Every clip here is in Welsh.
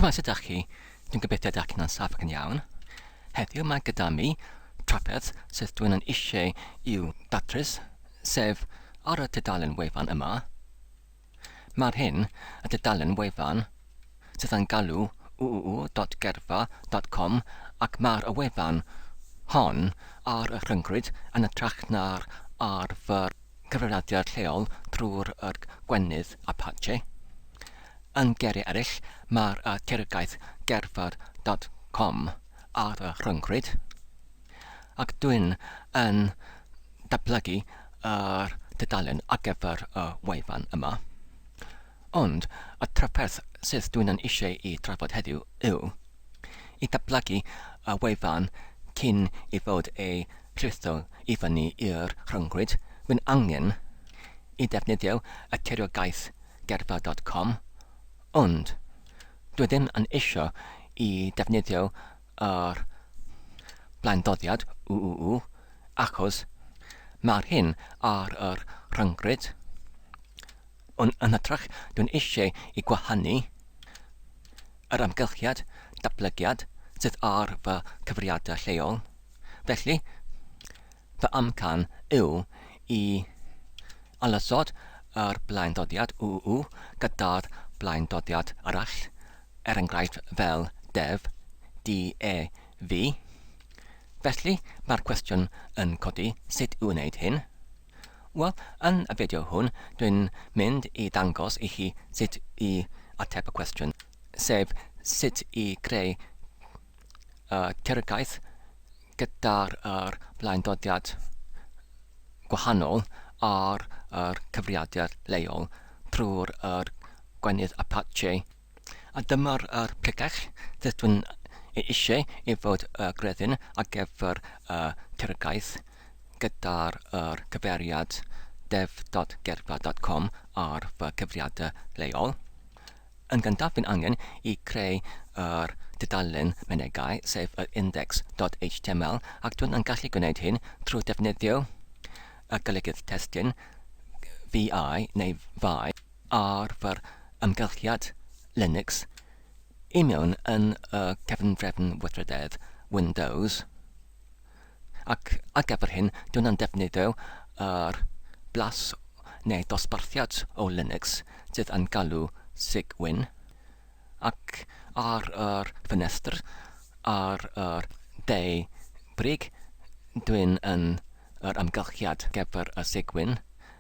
Shwmae, sut ydach chi? Dwi'n gobeithio ydych chi'n saff ac yn iawn. Heddiw mae gyda mi trafferth sydd dwi'n yn eisiau i'w datrys, sef ar y tudalen wefan yma. Mae'r hyn y tudalen wefan sydd yn galw uuu.gerfa.com ac mae'r y wefan hon ar y rhyngrwyd yn y trach na'r ar fy cyfrifiadur lleol drwy'r yr gwenith Apache. Yn geiriau eraill, mae'r y teyrgaeth gerdded dot com ar y rhyngrwyd, ac dwyn yn datblygu yr tudalen ar gyfer y wefan yma. Ond, y trafferth sydd dwi yn eisiau ei drafod heddiw yw, i ddatblygu y wefan cyn ei fod ei rhitho i fyny i'r rhyngrwyd, mae'n angen i ddefnyddio y tiriogaeth gerffa dot com, ond dwi ddim yn eisiau i ddefnyddio yr blaendoddiad UUU achos mae'r hyn ar y rhyngrwyd. Ond yn hytrach, dwi'n eisiau i gwahanu yr amgylchiad datblygiad sydd ar fy cyfriadau lleol. Felly, fy amcan yw i ailosod yr blaendodiad UU gyda'r blaendodiad arall, er enghraifft fel def, DEV. Felly, mae'r cwestiwn yn codi, sut i wneud hyn? Wel, yn y fideo hwn, dwi'n mynd i ddangos i chi sut i ateb y cwestiwn, sef sut i greu y teyrngais gyda'r yr blaendodiad gwahanol ar yr cyfrifiadur leol trwy'r yr gwenith Apache. A dyma'r er pregach dydw i'n ei eisiau i fod y greddyn ar gyfer y Turgaeth gyda'r er cyfeiriad dev.gerfa.com ar fy cyfriadau leol. Yn gyntaf fi'n angen i creu yr dudalen menegau sef yr index.html ac dwi'n yn gallu gwneud hyn trwy defnyddio y golygydd testun VI neu fai. ar fy amgylchiad Linux i mewn yn y cefndrefn weithrededd Windows, ac ar gyfer hyn dw i'n defnyddio yr blas neu ddosbarthiad o Linux sydd yn galw Cygwin, ac ar yr ffenestr ar yr dde brig dw i'n yn yr amgylchiad gyfer y Cygwin,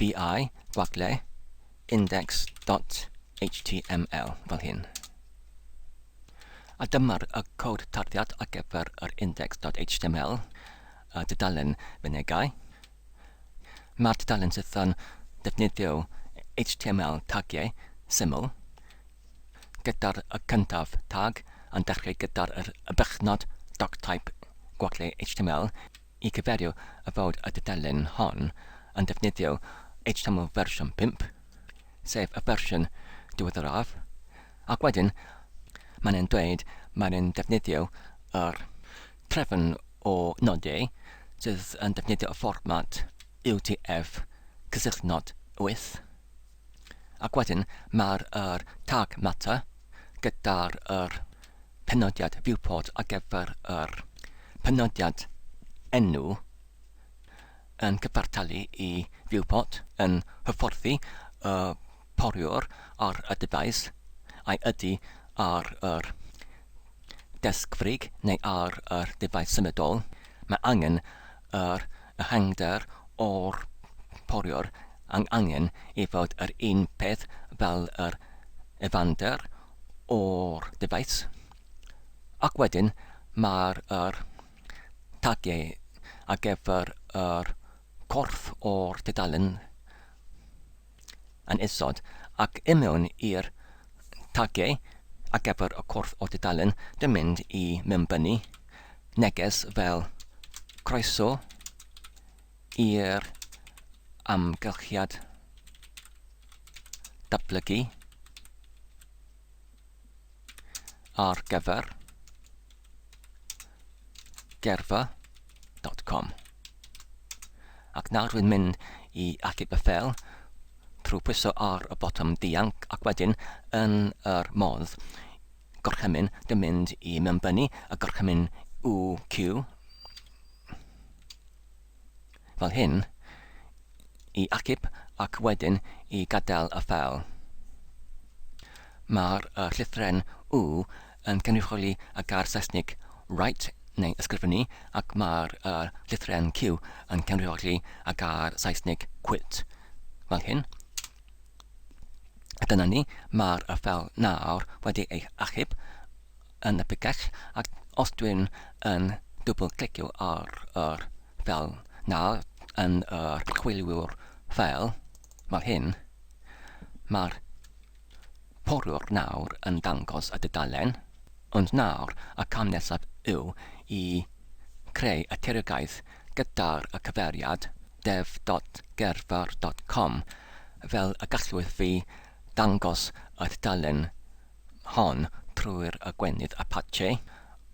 vi gwaglle index.html fel hyn. A dyma'r y cod tarddiad ar gyfer yr index.html, y dudalen fynegau. Mae'r dudalen sydd yn defnyddio HTML tagiau syml, gyda'r y cyntaf tag yn dechrau gyda'r y bychnod doctype gwaglle HTML i gyfeirio y fod y dudalen hon yn defnyddio HTML fersiwn 5, sef y fersiwn diweddaraf, ac wedyn mae'n e'n dweud mae'n e'n defnyddio yr trefn o nodau sydd yn defnyddio y fformat UTF-9 wyth. Ac wedyn mae'r yr tag matter gyda'r yr penodiad viewport ar gyfer yr penodiad enw yn cyfartalu i viewport yn hyfforddi y poriwr ar y dyfais ai ydy ar yr Dysgfrig neu ar yr defaid symudol, mae angen yr ehangder o'r poriwr ac angen i fod yr un peth fel yr ehfangder o'r defaid. Ac wedyn mae'r yr tagiau ar gyfer yr corff o'r tudalen. yn isod, ac i mewn i'r tagiau ar gyfer y cwrdd o dudalen dy mynd i mewnbynnu neges fel Croeso i'r amgylchiad datblygu. ar gyfer gerfa.com. Ac nawr rwy'n mynd i achub y ffel trwy pwyso ar y botwm dianc ac wedyn yn yr modd gorchymyn dy mynd i mewnbynnu y gorchymyn UQ fel hyn, i achub ac wedyn i gadael y ffeil. Mae'r y llythren U yn cynrychioli y gair Saesnig write neu ysgrifennu ac mae'r y llythren Q yn cynrychioli y gair Saesnig quit, fel hyn. Dyna ni, mae'r y ffeil nawr wedi ei achub yn y picell ac os dwi'n yn dwbl clicio ar yr fel na yn yr chwiliwr fel fel hyn mae'r porwr nawr yn dangos y dudalen ond nawr y cam nesaf yw i creu y tiriogaeth gyda'r y cyfeiriad dev.gerfr.com fel y gallwch fi ddangos y tudalen hon trwy'r aguenydd Apache,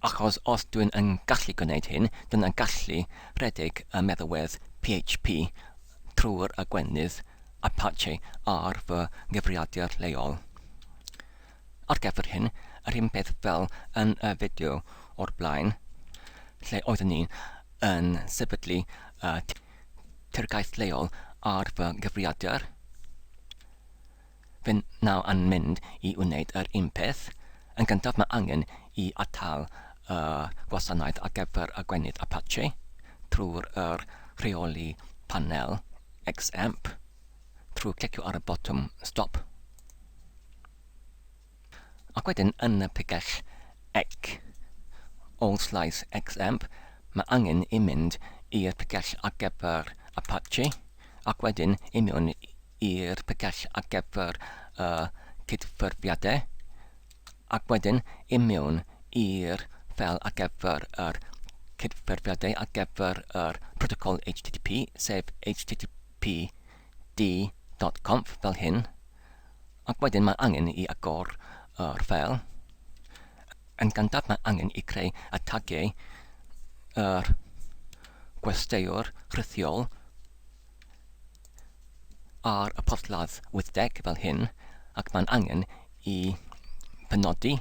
achos os dw i'n gallu gwneud hyn, dyna gallu rhedeg y meddalwedd PHP trwy'r aguenydd Apache ar fy nghyfrifiadur leol. Ar gyfer hyn, yr un peth fel yn y fideo o'r blaen, lle oeddwn ni'n yn sefydlu y tirgaeth leol ar fy nghyfrifiadur, Fy naw yn mynd i wneud yr un peth. Yn gyntaf mae angen i atal y gwasanaeth ar gyfer y gwenith Apache trwy'r yr rheoli panel XAMPP trwy clicio ar y botwm stop. Ac wedyn yn y picell ec, all slice xemp, mae angen i mynd i'r picell ar gyfer Apache ac wedyn i mewn i'r picell ar gyfer y cydffurfiadau ac wedyn i mewn i'r ffeil ar gyfer yr cydffurfiadau ar gyfer yr protocol HTTP, sef http d.conf fel hyn, ac wedyn mae angen i agor yr ffeil. Yn gyntaf mae angen i creu y tagiau yr gwesteiwr rhithiol ar y porthladd wythdeg fel hyn, ac mae'n angen i benodi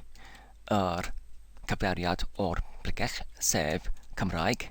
yr cyfeiriad o'r bregell, sef Cymraeg.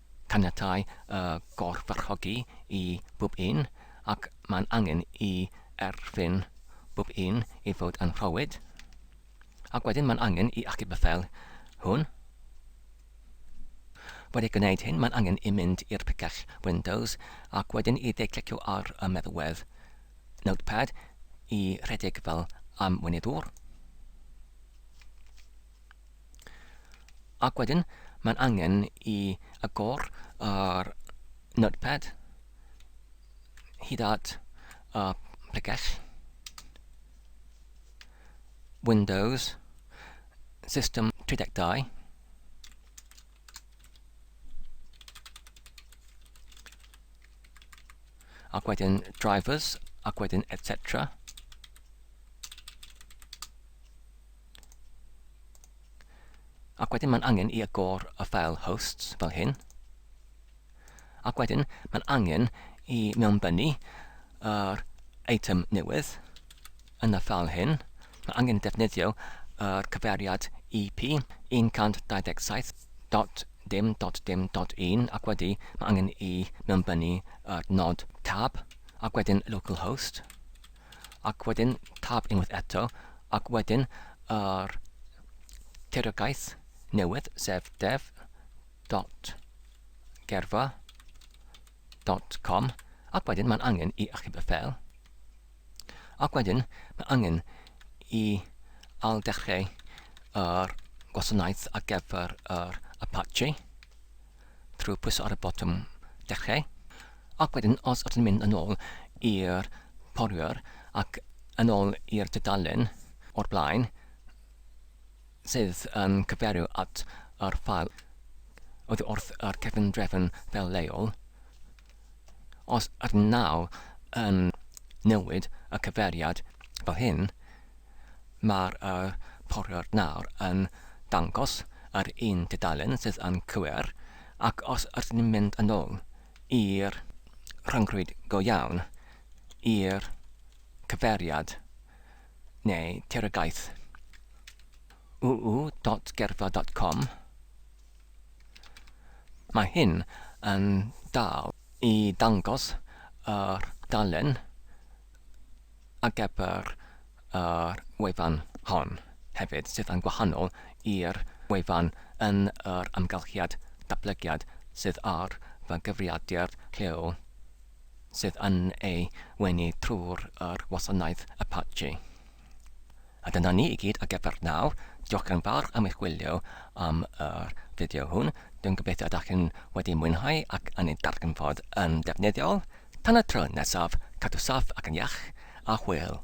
Caniatai y gorfarchogi i bob un, ac mae'n angen i erfyn bob un i fod yn rhowyd. Ac wedyn mae'n angen i achub y fel hwn. Wedi gwneud hyn, mae'n angen i mynd i'r picell Windows ac wedyn i dde-clicio ar y meddwedd Notepad i rhedeg fel amweinyddwr. Ac wedyn, mae'n angen i agor yr notepad hyd at y pregell. Windows, System 32. Ac wedyn drivers, ac wedyn etc. Ac wedyn mae'n angen i agor y ffeil hosts fel hyn. Ac wedyn mae'n angen i mewnbynnu yr eitem newydd yn y ffeil hyn. Mae'n angen defnyddio yr cyfeiriad EP 127.dim.dim.1 ac wedi mae angen i mewnbynnu yr nod tab ac wedyn localhost ac wedyn tab unwaith eto, ac wedyn yr tiriogaeth newydd, sef dev.gerfa.com, ac wedyn mae'n angen i achub y ffeil, ac wedyn mae angen i ailddechrau yr gwasanaeth ar gyfer yr Apache, trwy pwyso ar y botwm dechrau ac wedyn os ydyn ni'n mynd yn ôl i'r porwyr ac yn ôl i'r tudalen o'r blaen sydd yn cyfeirio at yr ffael oddi wrth yr cefndrefn fel leol Os arnaw yn newid y cyfeiriad fel hyn, mae'r poriwr nawr yn dangos yr un dudalen sydd yn cywir, ac os ydyn ni'n mynd yn ôl i'r rhyngrwyd go iawn, i'r cyfeiriad neu tiriogaeth uu.gerfla.com, Mae hyn yn dal i ddangos yr dudalen ar gyfer yr wefan hon hefyd, sydd yn gwahanol i'r wefan yn yr amgylchiad datblygiad sydd ar fy nghyfrifiadur lleol sydd yn ei wenu trwy'r wasanaeth Apache. A dyna ni i gyd ar gyfer nawr. Diolch yn fawr am eich gwylio am yr fideo hwn. Dwi'n gobeithio ydych chi'n wedi mwynhau ac yn ei darganfod yn defnyddiol. Tan y tro nesaf, cadw saff ac yn iach, a hwyl!